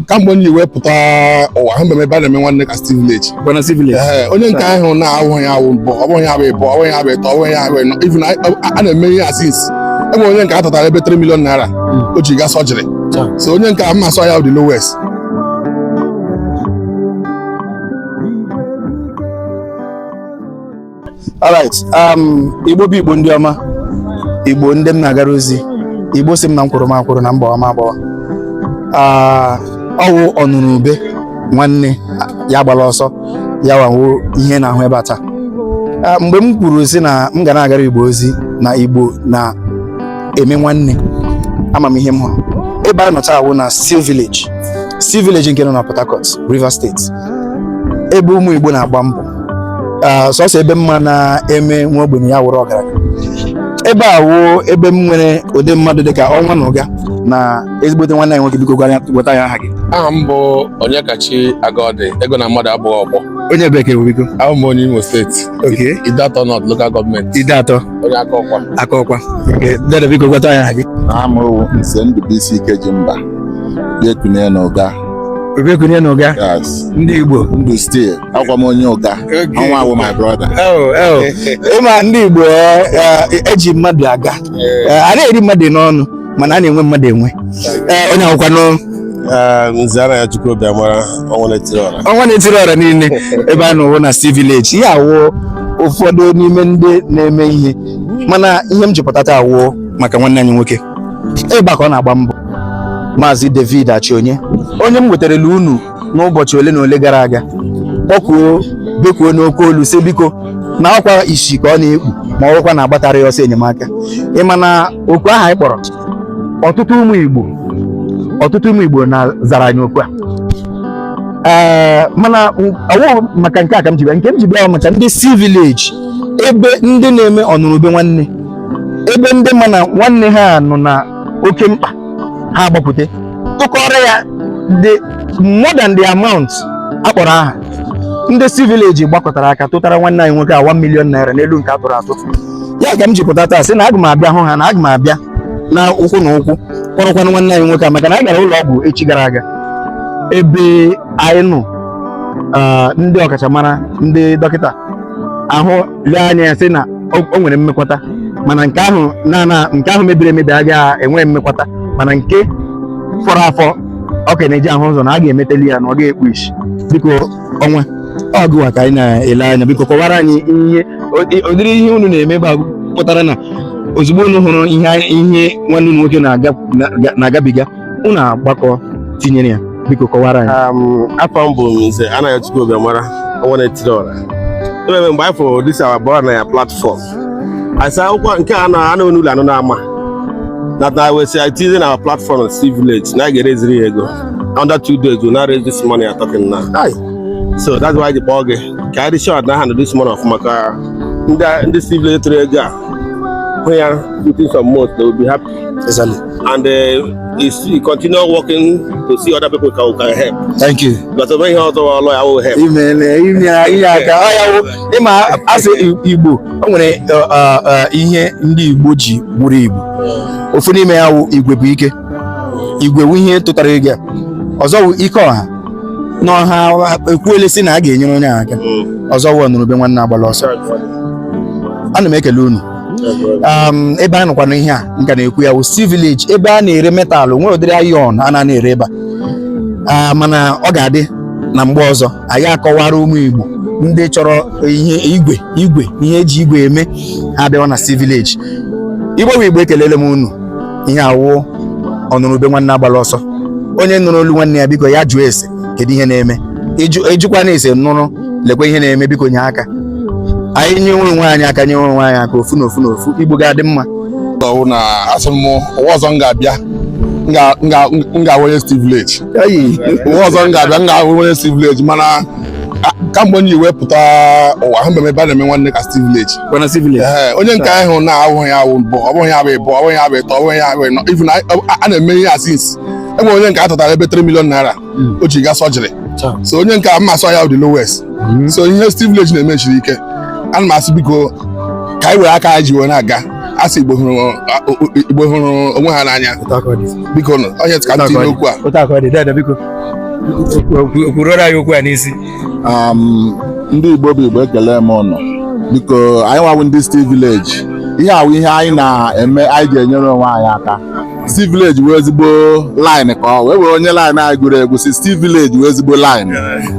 kamgbe m wee pụta ụwa ahụbeghị m ebe a na-eme nwanne ka Steel Village. Ee, onye nke ahụ na-awụghị ya wụ mbụ ọ bụghị ya bụ ịbụọ ọ bụghị ya bụ ịtọ ọ bụghị ya bụ ịnọ even a- a na-eme ihe a since enwere onye nke a tụtara ebe 3 million naira o ji gaa surgery Taa. so onye nke a mma sọ ya the lowest alright um, igbo bụ igbo ndị ọma igbo ndị m na-agara ozi igbo sị m na m kwụrụ m akwụrụ na m gbawa m agbawa ah, ọ wụ ọnụrụ ube nwanne ya gbara ọsọ ya wawo ihe na-ahụ ebe a taa ah, mgbe m kwuru sị na m ga na-agara igbo ozi na igbo na-eme nwanne ama m ihe m hụrụ ebe a nọ taa wụ na Steel Village Steel Village nke nọ na Port Harcourt Rivers State ebe ụmụ Igbo na-agba mbọ ah, sọsọ ebe m ma na-eme nwa ogbenye ya wụrụ ọgaranya ebe a wụ ebe m nwere ụdị mmadụ dịka ọnwa na ụga na ezigbote nwanne anyị nwoke biko gwara gwata anyị aha gị aha m bụ Onyekachi Agọdị ego na mmadụ abụghị ọgbọ onye ebee ka ị bụ biko awụ m onye Imo steeti okay Ideato North Local Government Ideato onye Akokwa Akokwa Okay, dede biko gwata anyị aha gị aha m wụ Nze Ndụbụisi Ikejimba Obiekunie na ụga Obiekunie na ụga Yes. ndị igbo Ndị Steel. Awụ m onye ụga. Okay. Ọnwa wụ my brother. Oh, oh. ị ma ndị igbo eh, eh, e ji mmadụ aga Eh, a na-eri mmadụ n'ọnụ mana a na-enwe mmadụ enwe Eh, onye a kwanụ Nze Anayọchukwu Obiamara ọnwa na-etiri ọra. ọnwa na-etiri ọra niile ebe a nọ wụ na Steel Village ihe a wụ ụfọdụ n'ime ndị na-eme ihe mana ihe m ji pụta taa wụ maka nwanne anyị nwoke ebe a ka ọ na-agba mbọ maazị David Achionye onye m wetarala unu n'ụbọchị ole na ole gara aga kpọkuo bekuo n'oke olu sị biko na ọkwa isi ka ọ na-ekpu ma ọ bụrụkwa na agbatara ya ọsọ enyemaka ị ma na oku ahụ anyị kpọrọ ọtụtụ ụmụ Igbo ọtụtụ ụmụ Igbo na zara anyị oku a ee mana ọ wụghị maka nke a ka m ji bịa nke m ji bịa maka ndị Steel Village ebe ndị na-eme ọnụrụ ube nwanne ebe ndị ma na nwanne ha nọ na oke mkpa ha agbapụta tụkọrọ ya the more than the amount a kpọrọ aha ndị Steel Village gbakọtara aka tụtara nwanne anyị nwoke a 1 million naira n'elu nke a tụrụ atụ ya ka m ji pụta taa sị na aga m abịa hụ ha na aga m abịa na ụkwụ na ụkwụ kpọrọkwanụ nwanne anyị nwoke a maka na anyị gara ụlọ ọgwụ echi gara aga ebe anyị nọ ah, ndị ọkachamara ndị dọkịta ahụ lee anya ya sị na o nwere mmekwata mana nke ahụ na nke ahụ mebiri emebi agaghị enwe mmekwata mana nke fọrọ afọ ọ ka na-eji ahụ ụzọ na a ga-emeteli ya na ọ gaghị ekpu isi biko ọnwa ọ gịwa ka anyị na-ele anya biko kọwara anyị ihe ụdịrị ihe unu na-eme ebe a pụtara na ozugbo unu hụrụ ihe nwanne unu nwoke na-agabiga unu agbakọ tinyere ya biko kọwara anyị afa m bụ nze Anayachukwu Obiamara ọnwa na-etiri ọra ememe mgbe anyị fụrụ this our boy na ya platfọm asa akwụkwọ nke a na anụ n'ụlọ anụ na-ama na na wesi itizi na platfọm na Steel Village na a ga-ereziri ya ego under two days we now raise this money you're talking now so that's why the ball game ka anyị dị sure na hand this money over maka ndị Steel Village tụrụ ego a Here, putting some more, they will be happy. Exactly. And uh, is he continue working to see other people who can help. Thank you. Because when he also a lawyer, I will help. Amen. Amen. Amen. Ịma asị Igbo, o nwere uh, uh, uh, ihe ndị Igbo ji bụrụ Igbo. Ofu n'ime ya wụ igwe bụ ike. Igwe wụ ihe tụtara ego. Ọzọ wụ ike ọha. na ọha ekwuele sị na a ga-enyere onye ahụ aka ọzọ wụ ọnụrụ ube nwanne agbala ọsọ ana m ekele unu um, ebe a nọkwanụ ihe a m ka na-ekwu ya wụ Steel Village ebe a na-ere metal nwere ụdịrị iron a na na-ere ebe a Ah, mana ọ ga-adị na mgbe ọzọ anyị akọwara ụmụ Igbo ndị chọrọ ihe igwe igwe ihe eji igwe eme ha abịawa na Steel Village igbo bụ igbo ekelele m unu ihe a wụ ọnụrụ ube nwanne agbala ọsọ onye nụrụ olu nwanne ya biko ya jụọ ese kedu ihe na-eme ajụkwana ese nụrụ lekwa ihe na-eme biko nye aka anyị nye onwe anyị aka nye onwe anyị aka ofu na ofu na ofu igbo ga-adị mma ọ wụ na a sị m ụwa ọzọ m ga-abịa m ga-awụ onye Steel Village ụwa ọzọ m ga-abịa m ga-awụ onye Steel Village mana kamgbe m ji wee pụta ụwa ahụbe m ebe a na-eme nwanne ka Steel Village Bwana Steel Village. Ee, onye nke ahụ na ọ wụghị ya wụ mbụ ọ bụghị ya bụ ịbụọ ọ bụghị ya bụ ịtọ ọ bụghị ya bụ ịnọ even a- a- a na-eme ihe a since enwere onye nke a tụtara ebe 3 million naira o ji gaa surgery Cha. so onye nke a m ma-asị ọ ya dị lowest so ihe Steel Village na-eme siri ike ana m asị biko ka anyị were aka anyị ji wee na-aga a sị Igbo hụrụ a- o- o- Igbo hụrụ onwe ha n'anya Otu aka ọ dị. biko nụ onye ka m tinye n'okwu a Otu aka ọ dị. Dede biko. kwurora anyị okwu a n'isi ndị Igbo bụ Igbo ekele m ụnụ biko anyị nwa wụ ndị Steel Village ihe a wụ ihe anyị na-eme anyị ji enyere onwe anyị aka Steel Village wụ ezigbo line ka ọ wụ e nwere onye line anyị gụrụ egwu sị Steel Village wụ ezigbo line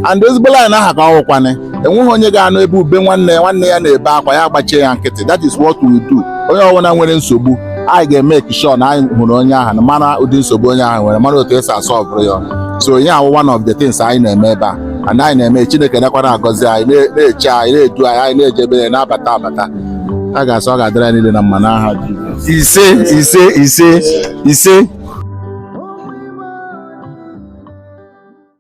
and ezigbo line ahụ ka ọ wụkwanị enweghị onye ga-anụ ebe ube nwanne nwanne ya na-ebe akwa ya gbachie ya nkịtị that is what we do onye ọbụla nwere nsogbu anyị ga-emake sure na anyị hụrụ onye ahụ mara ụdị nsogbu onye ahụ nwere mara otu esi asolvụrụ ya so ihe a wụ one of the things anyị na-eme ebe a and anyị na-eme chineke nọkwa na-agọzi anyị na-eche anyị na-edu anyị anyị na-eje ebe ya na-abata abata a ga-asị ọ ga-adịrị anyị niile na mma n'aha Jizọs ise ise ise